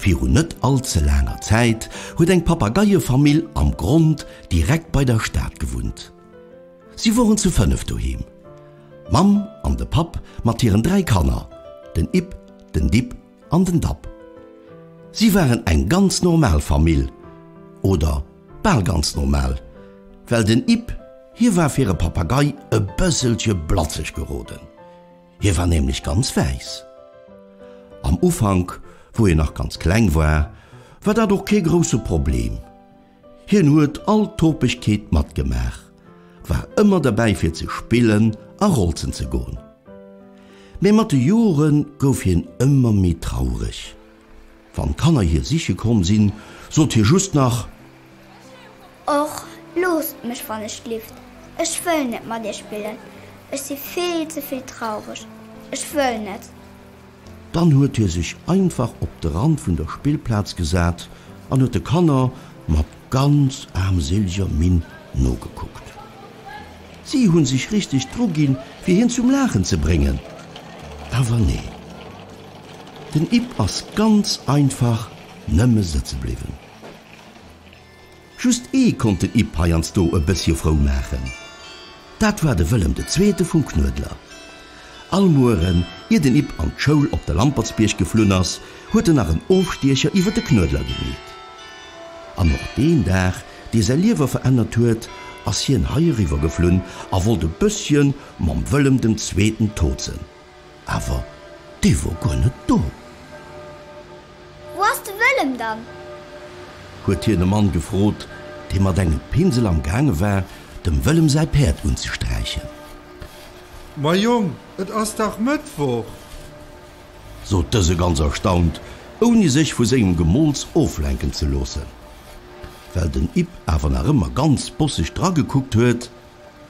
Virun net all ze laanger Zäit huet eng Papageiefamill am Grond direkt bei der Stad gewunnt. Si woren zu fënnef doheem, d'Mamm an de Papp mat hiren dräi Kanner, den Ipp, den Dipp an den Dapp. Si waren eng ganz normal Famill, oder bal ganz normal, well den Ipp, hie war fir e Papagei e bësselche blatzeg geroden, hie war nämlech ganz wäiss. Am Ufank, wou hien nach ganz kleng war, war dat och kee grousse Problem. Hien huet all Topegkeet matgemaach, war ëmmer derbäi fir ze spillen a rolzen ze goen. Mee mat de Jore gouf hien ëmmer méi traureg. Wann d'Kanner hie siche komm sinn, sot hie just nach. Och loosst mech wann ech lift, ech wëll net mat iech spillen, ech si vill ze vill traureg, ech wëll net. Dann huet hie sech einfach op de Rand vun der Spillplaz gesat an huet de Kanner mat ganz aarmséliger Minn nogekuckt. Si hu sech richteg druginn, fir hien zum Laachen ze bréngen, awer nee, den Ip ass ganz einfach nëmme sëtze bliwwen. Just ee konnt den Ip heiansdo e bëssche frou maachen, dat war de Wëllem de Zweete vum Knuedler. All Mueren, ier den Ip an d'Schoul op de Lampertsbierg geflunn ass, huet en nach en Ofstiecher iwwer de Knuedler gemeet. An och deen Dag, dee säi Liewe verännert huet, ass hien hei eriwwer geflunn a wollt e bëssche mam Wëllem dem Zweeten tozen. Awer dee wor guer net do. Wou ass de Wëllem dann? Huet hien e Mann gefrot, dee mat engem Pinsel am gaange war, dem Wëllem säi Päerd unzesträichen. Ma Jong, et ass dach Mëttwoch! Sot dëse ganz erstaunt, ouni sech vu sengem Gemools oflenken ze loossen. Well den Yb awer nach ëmmer ganz bosseg dragekuckt huet,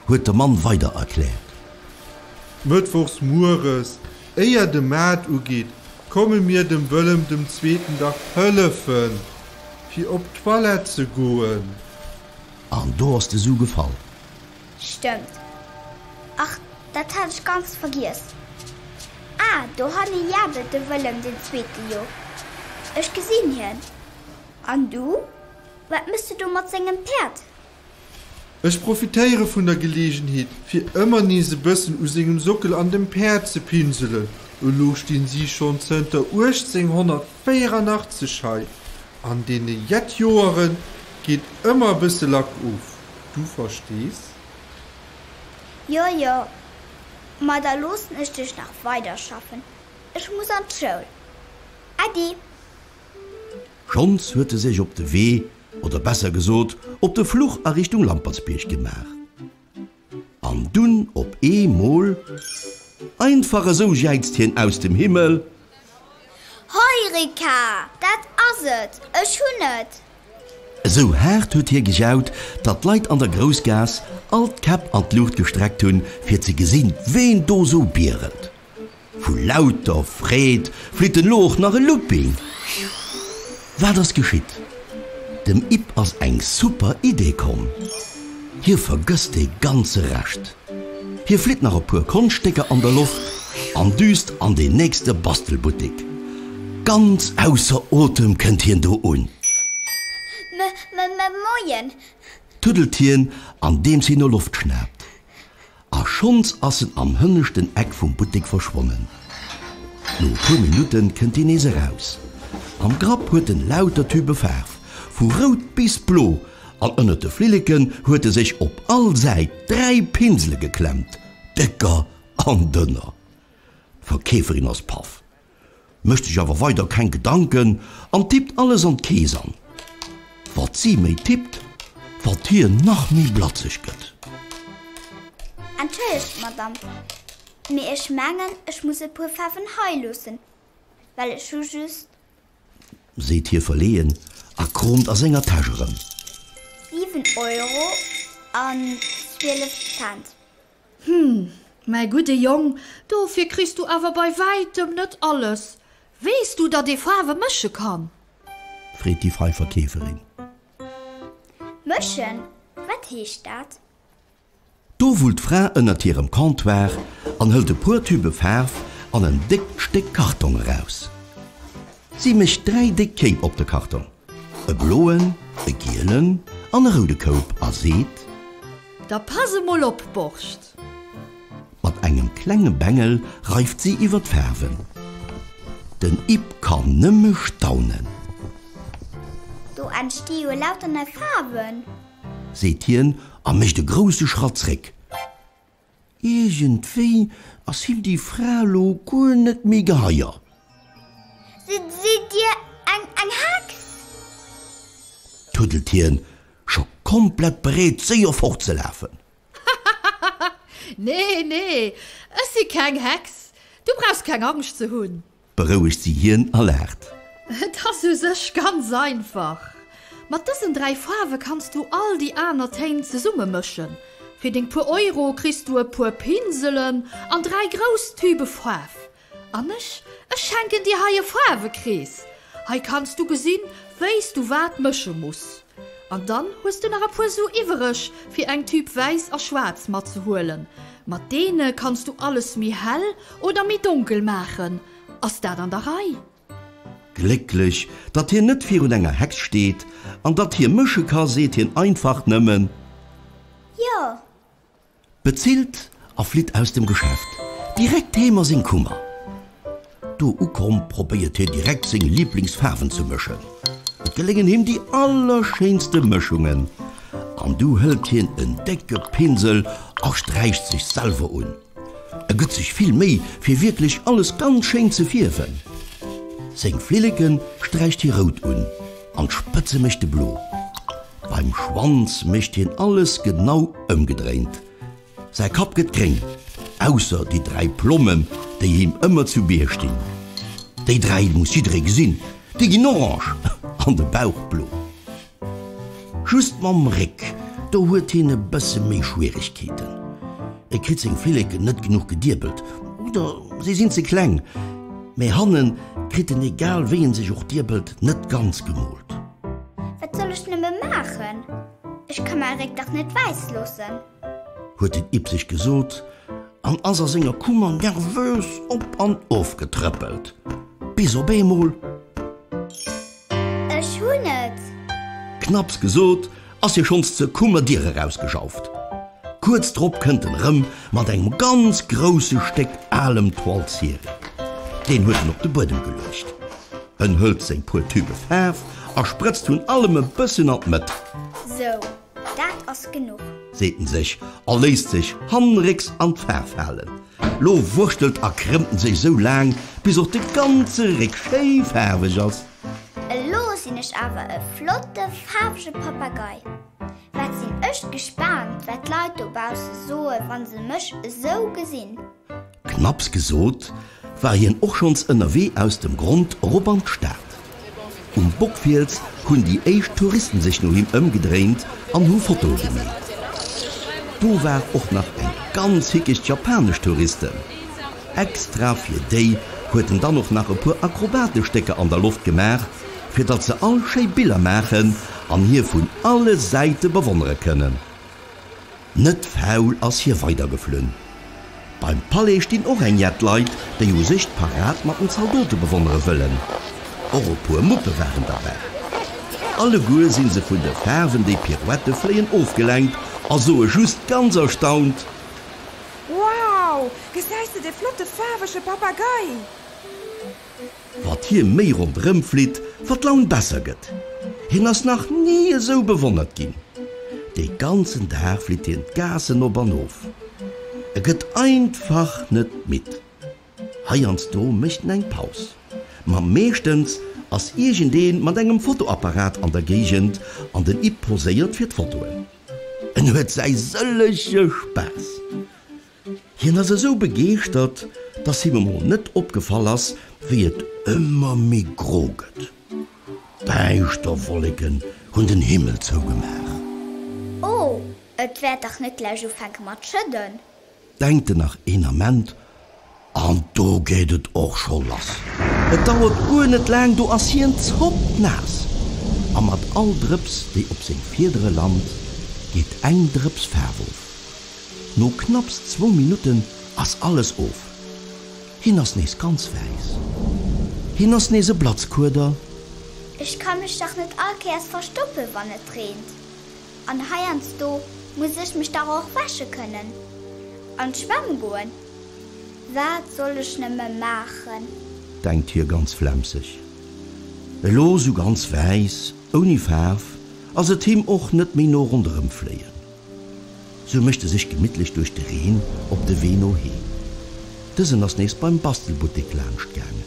huet de Mann weider erkläert. Mëttwochs mueres, éier de Maart ugeet, komme mir dem Wëllem dem Zweeten dach hëllefen, fir op d'Toilette ze goen. An do ass de Su gefall. Stëmmt. Ach, dat hat ech ganz vergiess. Ah, dohanne jabelt de Wëllem den Zweete jo. Ech gesinn hien. An du, wat méchs de do mat sengem Päerd? Ech profitéiere vun der Geleegenheet, fir ëmmer nees e bëssen u sengem Sockel an dem Päerd ze pinselen. Elo stinn si schonn zënter 1884 hei. An deene jett Joere geet ëmmer e bësse Lack of, du verstees. Jo, jo, ma da loossen ech dech nach weiderschaffen, ech muss an d'Schoul. Äddi! Schonns huet e sech op de Wee oder besser gesot op de Fluch a Richtung Lampertsbierg gemaach an dunn op ee Mol einfach esou jäizt hien aus dem Himmel. Heureka! Dat ass et! Ech hunn et! Esou haart huet hie gejaut, datt d'Leit an der Groussgaass all d'Käpp an d'Luucht gestreckt hunn, fir ze gesinn, ween do esou bierelt. Vu lauter Freed flitt elo och nach e Looping. Wat ass geschitt? Dem Yp ass eng super Idee komm. Hie vergësst dee ganze Rescht. Hie flitt nach e puer Konschtstécker an der Loft an düst an deen nächste Bastelbuttek. Ganz ausser Otem kënnt hien do un. M-m-m-moien! Tuddelt hien andeems hien no Loft schnaapt. A schonns ass en am hënneschten Eck vum Buttek verschwonnen. No e puer Minutte kënnt hien nees eraus. Am Grapp huet en lauter Tübe Faarf, vu rout bis blo, an ënnert de Flilleken huet e sech op all Säit dräi Pinsele geklemmt, décker an dënner. D'Verkeeferin ass paff. Mécht sech awer weider keng Gedanken an tippt alles an d'Kees an. Wat si méi tippt, wat hien nach méi blatzeg gëtt. Entschëllegt, Madamm, mee ech mengen, ech muss e puer Faarwen hei loossen, well ech hu just. Seet hie verleeën a kroomt a senger Täsch erëm. Siwen Euro an zwielef Cent. Hm, mäi gudde Jong, dofir kriss du awer bei wäitem net alles. Weess du, datt ee Faarwe mësche kann? Freet déi frei Verkeeferin. Mëschen? Wat heescht dat? Do wullt d'Fra ënnert hirem Comptoir an hëlt e puer Tübe Faarf an en déckt Stéck Kartong eraus. Si mécht dräi déck Kéip op de Kartong. E bloen, e gielen an e roude Koup a seet. Da pass emol op, Borscht! Mat engem klenge Bengel reift si iwwer d'Faarwen. Den Yp kann nëmme staunen. Do entsti jo lauter nei Faarwen! Seet hien a mécht e grousse Schratt zréck. Iergendwéi ass him déi Fra lo guer net méi geheier. Sidd Dir eng Hex? Tuddelt hien, scho komplett bereet séier fortzelafen. Hahahaha, nee, nee, ech si keng Hex, du brauchs keng Angscht ze hunn. berouegt si hien a laacht. Et ass u sech ganz einfach. Mat dësen dräi Faarwe kanns du all déi aner Téin zesumme mëschen. Fir deng puer Euro kriss du e puer Pinselen an dräi grouss Tübe Faarf. An ech, ech schenken dir hei e Faarwekrees. Hei kanns du gesinn, wéi s du wat mësche muss. An dann hues du nach e puer Su iwwereg fir eng Tüb wäiss a schwaarz matzehuelen. Mat deene kanns du alles méi hell oder méi donkel maachen. Ass dat an der Rei? Glécklech, datt hien net virun enger Hex steet an datt hie mësche ka seet hien einfach nëmmen. Jo, Bezilt a flitt aus dem Geschäft direkt heem a seng Kummer. Do ukomm probéiert hie direkt seng Liblingsfaarwen ze mëschen. Et geléngen him déi allerschéinste Mëschungen an du hëlt hien en décke Pinsel a sträicht sech selwer un. E gëtt sech vill Méi fir wierklech alles ganz schéin ze fierwen. Seng Flilleke sträicht hie rout un. An d'Spëtze mécht de blo. Beim Schwanz mécht hien alles genau ëmgedréint. Säi Kapp gëtt gréng, ausser déi dräi Plommen, déi him ëmmer zu Bier stinn. Déi dräi muss jidderee gesinn, déi ginn orange an de Bauch blo. Just mam Réck, do huet hien e bësse méi Schwieregkeeten. E kritt seng Filleken net genuch gediebelt oder si sinn ze kleng. Mee hannen kritt en egal wéi en sech och diebelt net ganz gemoolt. Wat soll ech nëmme maachen? Ech ka mäi Réck dach net wäiss loossen. Huet den Ib sech gesot an ass a senger Kummer nervös op an of getrëppelt, bis op eemol. Ech hunn et! Knapps gesot, ass hie schonns zur Kummer Dier erausgejauft. Kuerz drop kënnt en erëm mat engem ganz grousse Stéck alem Toile ciré. Deen huet en op de Buedem geluecht. En hëlt seng puer Tübe Faarf a sprëtzt vun allem e bësschen an d'Mëtt. Sou, dat ass genuch! Seet en sech a léisst sech hannenrécks an d'Faarf halen. Lo wurschtelt a krëmmt en sech sou laang bis och de ganze Réck schéi faarweg ass. Elo sinn ech awer e flotte faarwege Papagei. Wat sinn ech gespaant wat d'Leit dobausse soe wa se mech esou gesinn. Knapps gesot, war hien och schonns ënnerwee aus dem Grond erop an d'Stad. Um Bockfiels hunn déi éischt Touristen sech no him ëmgedréint an hu Fotoe gemeet. Do war och nach eng ganz hickeg japanesch Touristen. Extra fir déi huet en dann och nach e puer akrobatesch Stécker an der Loft gemaach, fir datt se all schéi Biller maachen an hie vun alle Säite bewonnere kënnen. Net faul ass hie weider geflunn. Beim Palais stinn och eng jett Leit, déi u sech d'Parad mat den Zaldote bewonnere wëllen. Och e puer Muppe waren derbäi. Alleguer si se vun de Faarwen, déi Pirouette fléien, ofgelenkt a soe just ganz erstaunt. Wow! Gesäis de dee flotte faarwege Papagei? Wat hie méi ronderëm flitt, wat d'Laun besser gëtt. Hien ass nach ni esou bewonnert ginn. De ganzen Dag flitt hien d'Gaassen op an of. E gëtt einfach net midd. Heiansdo mécht en eng Paus, ma meeschtens ass iergendee mat engem Fotoapparat an der Géigend an den Ip poséiert fir d'Fotoen. En huet säi sëllege Spaass. Hien ass esou begeeschtert, dass him emol net opgefall ass, wéi et ëmmer méi gro gëtt. Däischter Wolleken hunn den Himmel zougemaach. Oh, et wäert dach net gläich ufänke mat schëdden! Denkt en nach een Ament. An do geet et och scho lass. Et dauert guer net laang, do ass hien zoppnaass. A mat all Drëps, déi op seng Fiedere lant, geet eng Drëps Faarf of. No knapps zwou Minutten ass alles of. Hien ass nees ganz wäiss. Hien ass nees e Blatzkueder. Ech ka mech dach net all Kéiers verstoppe wann et reent. An heiansdo muss ech mech dach och wäsche kënnen an d'Schwämm goen. Wat soll ech nëmme maachen? Denkt hie ganz flemseg. Elo sou ganz wäiss, ouni Faarf, ass et him och net méi no ronderëm fléien. Sou mécht e sech gemittlech duerch de Reen op de Wee no heem. Dësen ass nees beim Bastelbuttek laanscht gaangen.